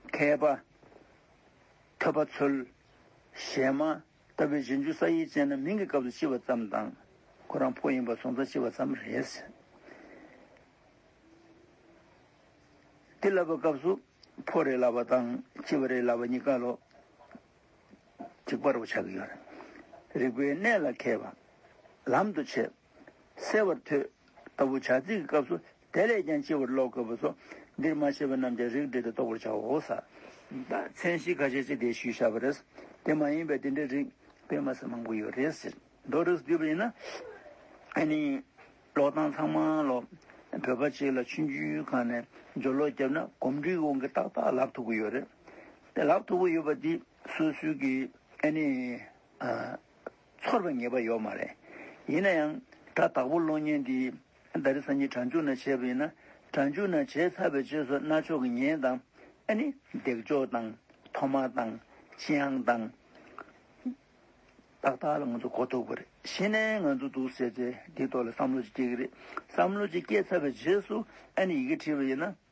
མཁས་པ། ཐོས་པ་ཚོལ། གཞན་མ། ལྟ་བུའི་གཞི་འཇུག་ས་ཡིག་ཅན་ནམ་མིང་གི་སྐབས་སུ་ལྕི་བ་ཙམ་དང། ཁོ་རང་ཕོ་ཡིན་པར་སོང་ཙང་ལྕི་བ་ཙམ་རེད། འདི་ལབ་པའི་སྐབས་སུ་ཕོ་རེད་ལབ་པ་དང་ལྕི་བ་རེད་ལབ་པ་གཉིས་ཀ་ལོ། གཅིག་པར་བ་ཆགས་ཀྱི་ཡོད་རེད། རིག་པའི་གནས་ལ་མཁས་པ། ལམ་དུ་ཆས། གསལ་བར་ཐོས། ལྟ་བུ་བྱ་ཚིག་གི་སྐབས་སུ་དེ་ལས་ཀྱང་ལྕི་བར་ཀློག་དགོས་པས་སོ། འདིར་མ་ཤེས་པ་རྣམས་ཀྱང་རིགས་འགྲེ་སྟེ་རྟོགས་པར་བྱའོ། མཚན་གཞི་ཁ་ཤས་ཅི་བདེ་ཞུས་བྱ་བ་རེད། དེ་མ་ཡིན་པའི་དེ་འདྲའི་རིགས་དཔེ་མ་ཟད་མང་པོ་ཡོད་རེད་ཟེར། མདོ་རིགས་སུ་བསྡུས་པ་ཡིན་ན། ཨེ་ནི། ཀློག་སྟངས་ཚང་མ་ཀློག། བོད་པ་ཅིག་ལ་ཆུ་འཇུའི་ཁ་ནས་སྦྱོར་ཀློག་བརྒྱབ་ན་གོམས་འདྲིས་ཀྱི་དབང་གིས་ཏག་ཏག་ལབ་ཐུབ་ཀྱི་ཡོད་རེད། དེ་ལབ་ཐུབ་ཀྱི་ཡོད་པ་འདི་སུས་སུས་ཀྱིས་ཨེ་ནི། ཚོར་བའི་ངེས་པ་ཡོད་མ་རེད། ཡིན་ན་ཡང། ད་བདག་པོ་གློག་བརྙན་འདིས། ད་རེས་སང་ཉིན་གྲྭ་མཇུག་ན་བྱས་པ་ཡིན་ན། གྲྭ་མཇུག་ན་བྱས་ཚར་བའི་རྗེས་སུ་ན་ཆོག་གི་ཉེན་དང། ཨ་ནི། འདེགས་འཇོག་དང། ཐོག་མ་དང། ཅི་ཨང་དང། ཏག་ཏག་ལ་ང་ཚོ་གོ་ཐུབ་ཀྱི་རེད། གཞི་ནས་ང་ཚོ་འདུག་ཟེར་ཚེ་དེའི་ཐོག་ལ་བསམ་བློ་ཅིག་སྐྱེ་གི་རེད། བསམ་བློ་ཅིག་སྐྱེ་ཚར་བའི་རྗེས་སུ་ཨ་ནི་ཡི་གེ་བྲིས་པ་ཡིན་ན།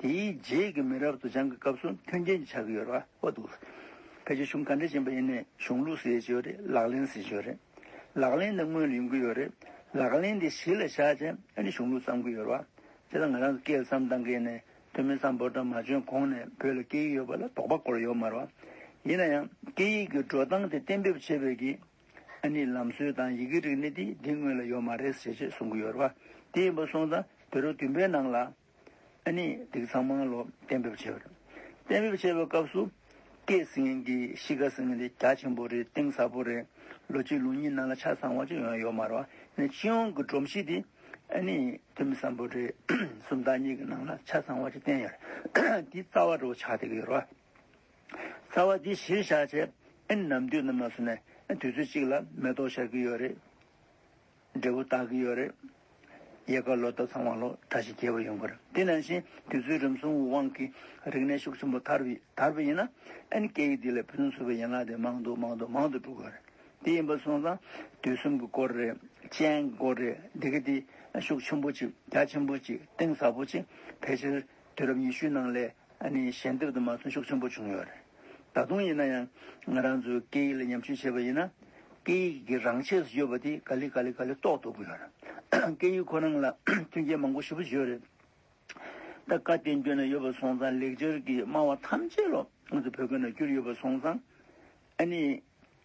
དེའི་རྗེས་ཀྱི་མི་རབས་དུ་བྱང་གི་སྐབས་སུ་མཐུན་རྐྱེན་གྱི་ཆ་གི་ཡོད་ར་བ་འདུག། ཕལ་ཆེར་གཞུང་ག་འདྲས་ཅན་པ་ཡིན་ནའི་གཞུང་ལུགས་ཟེར་གྱི་ཡོད་རེད་ལག་ལེན་ཟེར་གྱི་ཡོད་རེད། ལག་ལེན་དེ་དངོས་ལ་ཡོང་གི་ཡོད་རེད་ལག་ལེན་དེ་གཞི་ལ་བཞག་ཅིང་ཨ་ནི་གཞུང་ལུགས་བརྩམས་ཀྱི་ཡོད་ར་བ། དེ་དང་ང་རང་གི་སྐད་ལ་བརྩམས་སྟངས་འགལ་ནས་དོན་མེད་བརྩམས་འབོར་དང་མ་འཇོན་གོང་ནས་བོད་ལ་སྐད་ཡིག་ཡོད་པ་ལ་དོགས་པ་སྐོར་ལ་ཡོད་མ་ར་བ། ཡིན་ན་ཡང་སྐད་ཡིག་གི་འགྲོ་སྟངས་དེ་གཏན་འབེབས་བྱེད་པའི་གི་ཨ་ནི་ལམ་སྲོལ་དང་ཡི་གེ་རིག་གནས་དེ་འདི་དངོས་ལ་ཡོད་མ་རེད་ཟེར་ཅེས་གསུང་གི་ཡོད་ར་བ། དེ་ཡིན་པ་སོང་ཙང་བེ་རོ་བདུན་པའི་ནང་ལ། ཨ་ནི་དེ་གཙང་མ་ལོ་གཏན་འབེབས་བྱས་པ་རེད། གཏན་འབེབས་བྱས་པའི་སྐབས་སུ། སྐད་གསེང་གི་གཤིས་ཀ་ཟེར་ནི་དེ་རྒྱ་ཆེན་པོ་རེད་གཏིང་ཟབ་པོ་རེད། ལོ་གཅིག་ལོ་གཉིས་ནང་ལ་ཆ་ཚང་བ་ཅིག་ཡང་ཡོད་མ་རེད། ཨ་ནི་སྤྱི་ཡོངས་ཀྱི་སྒྲོམ་གཞི་དེ། ཨ་ནི་དེ་མི་བཟང་པོ་རེད། སུམ་རྟགས་གཉིས་ཀྱི་ནང་ལ་ཆ་ཚང་བ་ཅིག་བསྟན་ཡོད་རེད། དེའི་རྩ་བ་འགྲོ་བ་ཆགས་ཐིག་ཡོད་རེད། རྩ་བ་དེ་གཞིར་བཞག་བྱས། ཨ་ནི་ནམ་དུས་ནམ་ལ་སོང་ནས་དུས་ཚོད་ཅིག་ལ་མེ་ཏོག་ཤར་གྱི་ཡོད་རེད། འབྲས་བུ་རྟགས་ཀྱི་ཡོད་རེད། ཡལ་ག་ལོ་ཟླ་ཚང་བ་ལོ་གྲ་ཞིག་རྒྱས་པ་ཡོང་གི་རེད་དེ་ནང་བཞིན་དུས་ཚོད་རིམ་སོང་བའི་དབང་གིས་རིག་གནས་ཤུགས་ཆེན་པོ་དར་དར་བ་ཡིན་ན་ཨན་སྐད་ཡིག་འདི་ལས་ཕུན་སུམ་ཚོགས་པའི་ཡན་ལག་དེ་མང་དུ་མང་དུ་མང་དུ་འགྲོ་གི་རེད་དེ་ཡིན་པ་སོང་ཙང་དུས་གསུམ་གྱི་སྐོར་རེད་སྤྱན་གྱི་སྐོར་རེད་འདི་གི་དེ་ཤུགས་ཆེན་པོ་ཅིག་རྒྱ་ཆེན་པོ་ཅིག་གཏིང་ཟབ་པོ་ཅིག་ཕལ་ཆེར། དུས་རབས་ཉི་ཤུའི་ནང་ལས་ནི་ཞལ་འདེབས་དུ་མ་ཚོན་ཤུགས་ཆེན་པོ་བྱུང་ཡོད་རེད། ད་དུང་ཡིན་ན་ཡང་ང་རང་ཚོས་སྐད་ཡིག་ལ་ཉམས་ཞིབ་བྱེད་པ་ཡིན་ན། སྐད་ཡིག་གི་རང་ཆས་སུ་ཡོད་པ་དེ་ག་ལི་ག་ལི་ག་ལི་རྟོགས་འདུག་གི་ཡོད་རེད། སྐད་ཡིག་ཁོ་རང་ལ་མཐུན་རྐྱེན་མང་པོ་ཞིབ་པོ་བརྗོད་རེད། ད་བཀའ་བསྟན་བཅོས་ན་ཡོད་པ་སོང་ཙང་ལེགས་སྦྱར་གྱི་སྨྲ་བ་ཐམས་ཅད་ལོ་ང་ཚོ་བོད་སྐད་ན་བསྒྱུར་ཡོད་པ་སོང་ཙང། ཨ་ནི།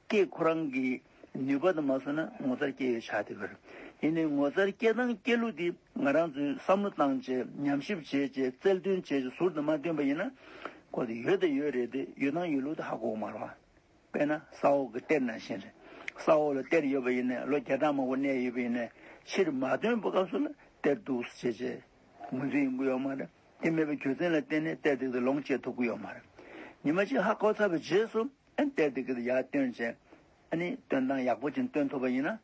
ཀྱེ་ཁོ་རང་གིས་ནུས་པ་དང་མ་བཟོ་ན་ངོ་ཚར་སྐྱེལ་ཡོད་ཆགས་དེ་གར། ཡིན་ནའི་ངོ་ཚར་སྐྱེལ་སྟངས་སྐྱེལ་ལུགས་དེ་ང་རང་ཚོས་བསམ་བློ་བཏང་བྱས་ཉམས་ཞིབ་བྱས་བྱས་རྩལ་བཏོན་བྱས་བྱས་ཟུར་དུ་མ་བཏོན་པ་ཡིན་ན། ཁོ་དེ་ཡོད་དང་ཡོད་རེད་དེ་ཡོད་སྟངས་ཡོད་ལུགས་དེ་ཧ་གོ་མ་རུང། དཔེར་ན་ས་འོག་གི་གཏེར་ནང་བཞིན་རེད། ས་འོག་ལ་གཏེར་ཡོད་པ་ཡིན་ནས་ལོ་བརྒྱ་ཕྲག་མང་པོ་གནས་ཡོད་པ་ཡིན་ནས་ཕྱིར་མ་བཏོན་པ་སྐབས་སུ་ལ་གཏེར་འདུག་ཟེར་བྱས་བྱས་ངོས་འཛིན་ཡོང་གི་ཡོད་མ་རེད། དེ་མེད་པའི་གྱོད་ཚན་ལ་བརྟེན་ནས་གཏེར་སྟེགས་དེ་ལོངས་སྤྱད་ཐུབ་ཀྱི་ཡོད་མ་རེད། ཉི་མ་གཅིག་ཧ་གོ་ཚར་བའི་རྗེས་སུ་གཏེར་སྟེགས་དེ་ཡར་བཏོན་བྱས། སྟོན་སྟངས་ཡག་པོ་ཅན་སྟོན་ཐུབ་པ་ཡིན་ན།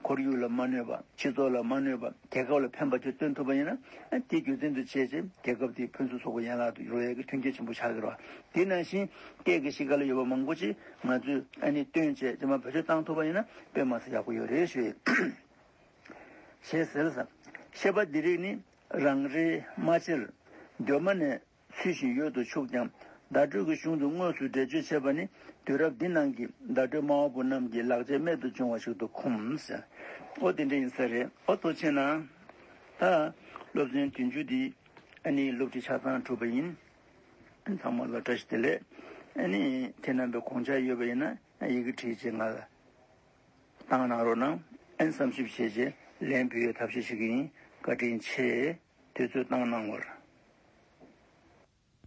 ཁོར་ཡུག་ལ་མ་གནོད་པ་སྤྱི་ཚོགས་ལ་མ་གནོད་པ་རྒྱལ་ཁབ་ལ་ཕན་པ་བཅས་སྟོན་ཐུབ་པ་ཡིན་ན། དེ་གྱོད་ཚན་དུ་བྱས་རྗེས་རྒྱལ་ཁབ་དེའི་ཕུན་སུམ་ཚོགས་པའི་ཡན་ལག་ཏུ་འགྱུར་བ་ཡག་གི་ཐོན་སྐྱེད་ཆེན་པོ་ཆགས་ཀྱི་རེད། དེ་ནང་བཞིན་སྐད་ཀྱི་གཤིས་ཀ་ལ་ཡོད་པ་མང་པོ་ཅིག་ང་ཚོས་སྟོན་བྱས་རྗེས་མར་བེད་སྤྱོད་བཏང་ཐུབ་པ་ཡིན་ན་དཔེ་མ་ཟད་ཡག་པོ་ཡོད་རེད་ཞུ་ཡི། ཞེས་ཟེར། ཤེས་པ་འདི་རིགས་ནི་རང་རེའི་རྨ་ཆེར་གདོད་མ་ནས་ཚུལ་བཞིན་ཡོད་དུ་ཆུག་ཀྱང་བརྡ་སྤྲོད་ཀྱི་གཞུང་དུ་དངོས་སུ་འགྲེལ་བརྗོད་བྱས་པ་ནི་དུས་རབས་འདི་ནང་གི་བརྡ་སྤྲོད་སྨྲ་བ་པོ་རྣམས་ཀྱི་ལག་རྗེས་རྨད་དུ་བྱུང་བ་ཞིག་ཏུ་འཁུམས། ཨོ་དེ་འདྲ་ཡིན་ས་རེད་ཨོ་ཐོ་ཆེ་ན། ད་སློབ་ཚན་དུས་མཇུག་འདི་ཨ་ནི་སློབ་ཁྲིད་ཆ་ཚང་གྲུབ་པ་ཡིན། ཚང་མ་ལ་བཀྲ་ཤིས་བདེ་ལེགས་ཨ་ནི་ཁྱེད་རྣམ་པའི་དགོངས་འཆར་ཡོད་པ་ཡིན་ན་ཡི་གེ་བྲིས་རྗེས་ང་ལ། ཏང་ནང་རོགས་གནང་ཨན་བསམ་ཞིབ་བྱས་རྗེས་ལན་འབུལ་ཡོད་ཐབས་ཤེས་ཤིག་ཡིན་བཀའ་དྲིན་ཆེ། དུས་ཚོད་བཏང་གནང་བར།